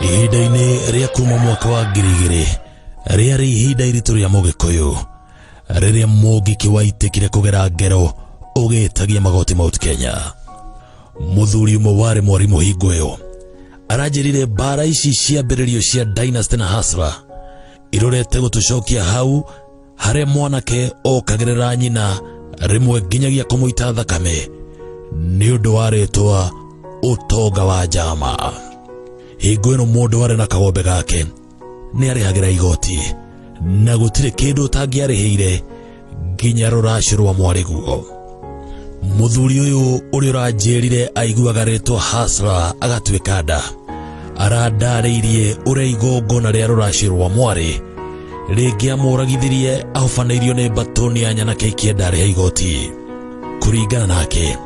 ihinda-inĩ rĩa kuma mwaka wa ngiri igĩrĩ rĩarĩ ihinda iritũ rĩa mũgĩkũyũ rĩrĩa mũngĩkĩ waitĩkire kũgera ngero ũgĩtagia magoti mount kenya mũthuri ũmwe warĩ mwarimũ hingo ĩyo aranjĩrire mbara ici cia mbĩrĩrio cia dynasty na hasra irorete gũtũcokia hau harĩa mwanake okagerera nyina rĩmwe nginyagia kũmũita thakame nĩ ũndũ wa rĩtwa ũtonga wa njama hingo ĩno mũndũ arĩ na kagombe gake nĩ arĩhagĩra igoti na gũtirĩ kĩndũ ũtangĩarĩhĩire nginya rũracio rwa mwarĩguo mũthuri ũyũ ũrĩa ũranjĩrire aiguaga rĩtwa hasra agatuĩka nda arandarĩirie ũrĩa igongona rĩa rũracio rwa mwarĩ rĩngĩamũragithirie ahobanĩirio nĩ mbatũni ya nyanake ikĩenda arĩhe igoti kũringana nake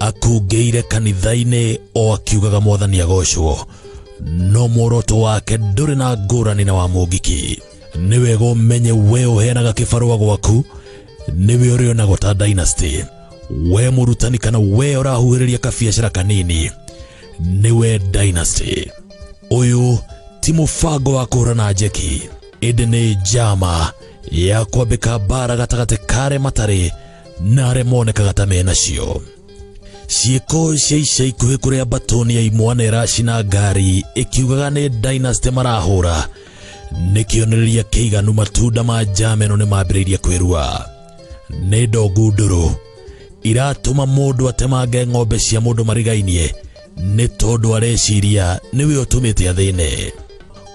akungĩire kanitha-inĩ o akiugaga mwathani agocwo no muoroto wake ndũrĩ na ngũrani na wa mũngiki nĩ wega ũmenye we ũheanaga kĩbarũa gwaku nĩwe ũrĩonagwo ta dynasty we mũrutani kana we ũrahuhĩrĩria kabiacara kanini nĩwe dynasty ũyũ ti mũbango wa kũhũrana njeki ĩndĩ nĩ njama ya kwambĩka mbara gatagatĩ ka arĩa matarĩ na arĩa monekaga ta mena cio ciĩko cia ica ikuhĩ kũrĩa mbatoni ya imwana ĩracina ngari ĩkiugaga nĩ dynasty marahũra nĩ kĩonereria kĩiganu matunda ma njameno nĩ mambĩrĩirie kwĩrua nĩ ndongu ndũrũ iratũma mũndũ atemange ng'ombe cia mũndũ marigainie nĩ tondũ areciria nĩwe ũtũmĩte athĩne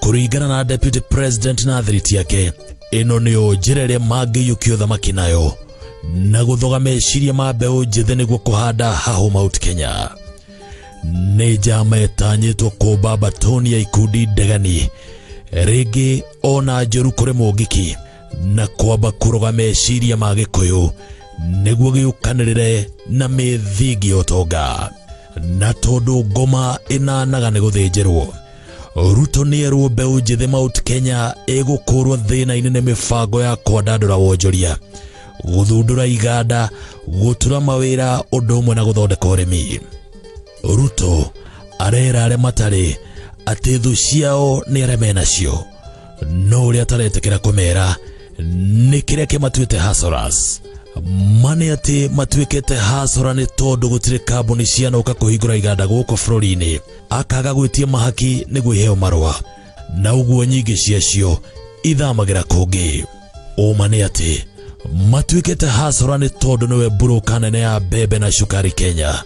kũringana na deputy president na thiriti yake ĩno nĩyo njĩra ĩrĩa mangĩiyũkia ũthamaki nayo na gũthoga meciria ma mbeũ njĩthĩ nĩguo kũhanda hahũ mount kenya nĩ njama ĩtanyĩtwo kũmba mbatoni ya ikundi ndegani rĩngĩ ona njũru kũrĩ mũngĩki na kwamba kũroga meciria ma gĩkũyũ nĩguo gĩũkanĩrĩre na mĩthingi ũtonga na tondũ ngoma ĩnanaga nĩ gũthĩnjĩrwo ruto nĩ erwo mbeũ njĩthĩ mount kenya ĩgũkũrwo thĩna-inĩ nĩ mĩbango ya kwandandũra wonjoria gũthundũra iganda gũtura mawĩra ũndũ ũmwe na gũthondeka ũrĩmi ruto arera arĩa matarĩ atĩ thũ ciao nĩ arĩa menacio no ũrĩa ataretekera kũmera nĩ kĩrĩa kĩmatuĩte hasoras mane atĩ matuĩkĩte hasora nĩ tondũ gũtirĩ kambuni cianũka kũhingũra iganda gũkũ bũrũri-inĩ akaga gwĩtia mahaki nĩguo iheo marũa na ũguo nyingĩ ciacio ithamagĩra kũngĩ ũma nĩ atĩ matuĩkĩte hasora nĩ tondũ nĩwe mburũka nene ya mbembe na cukari kenya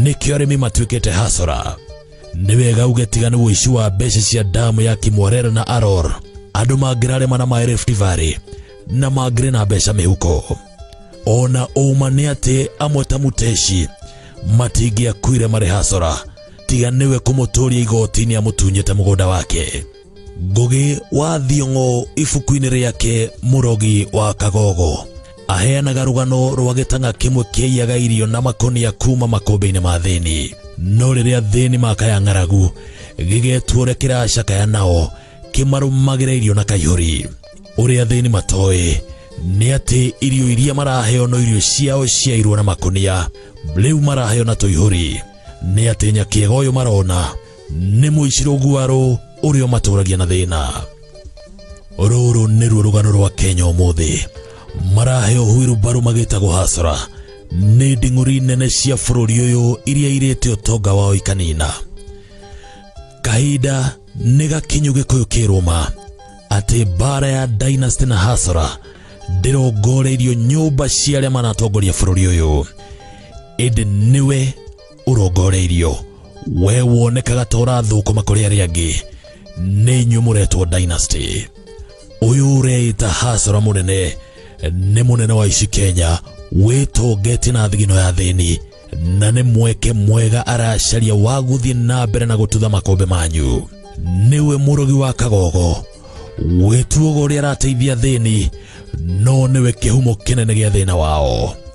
nĩkĩo arĩmi matuĩkĩte hasora nĩ wega uge tiga nĩ ũici wa mbeca cia damu ya kimorera na aror andũ mangĩrarĩma na maĩ Rift Valley na mangĩrĩ na mbeca mĩhuko ona ũma nĩ atĩ amwe ta muteci matingĩakuire marĩ hasora tiga nĩwe kũmũtũria igoti-inĩ amũtunyĩte mũgũnda wake Ngũgĩ wa Thiong'o ibuku-inĩ rĩake Mũrogi wa Kagogo aheanaga rũgano rwa gĩtanga kĩmwe kĩaiyaga irio na makũnia kuma makũmbĩ-inĩ ma thĩni no rĩrĩa thĩni makaya ng'aragu gĩgetua ũrĩa kĩracakaya nao kĩmarũmagĩra irio na kaihũri ũrĩa thĩni matoĩ nĩ atĩ irio iria maraheo no irio ciao ciairwo na makũnia rĩu maraheo na tũihũri nĩ atĩ nyakĩega ũyũ marona nĩ mũicirũ guarũ ũrĩa ũmatũragia na thĩna rũrũ nĩruo rũgano rwa kenya ũmũthĩ marahe ũhuiru mbaru magĩtagwo hasra nĩ nding'ũri nene cia bũrũri ũyũ iria irĩte ũtonga wao ikanina kahinda nĩ gakinyu gĩkũyũ kĩrũma atĩ mbaara ya dynasty na hasra ndĩrongoreirio nyũmba cia arĩa manatongoria bũrũri ũyũ ĩndĩ nĩwe ũrongoreirio we wonekaga ta ũrathũkũma kũrĩ arĩa angĩ nĩ inyuĩ mũretwo dynasty ũyũ ũreĩta hasara mũnene nĩ mũnene wa ici kenya wĩtongetie na thigino ya thĩni na nĩ mweke mwega aracaria wa gũthiĩ na mbere na gũtutha makombe manyu nĩwe mũrogi wa kagogo wĩtuoga ũrĩa arateithia thĩni no nĩwe kĩhumo kĩnene gĩa thĩna wao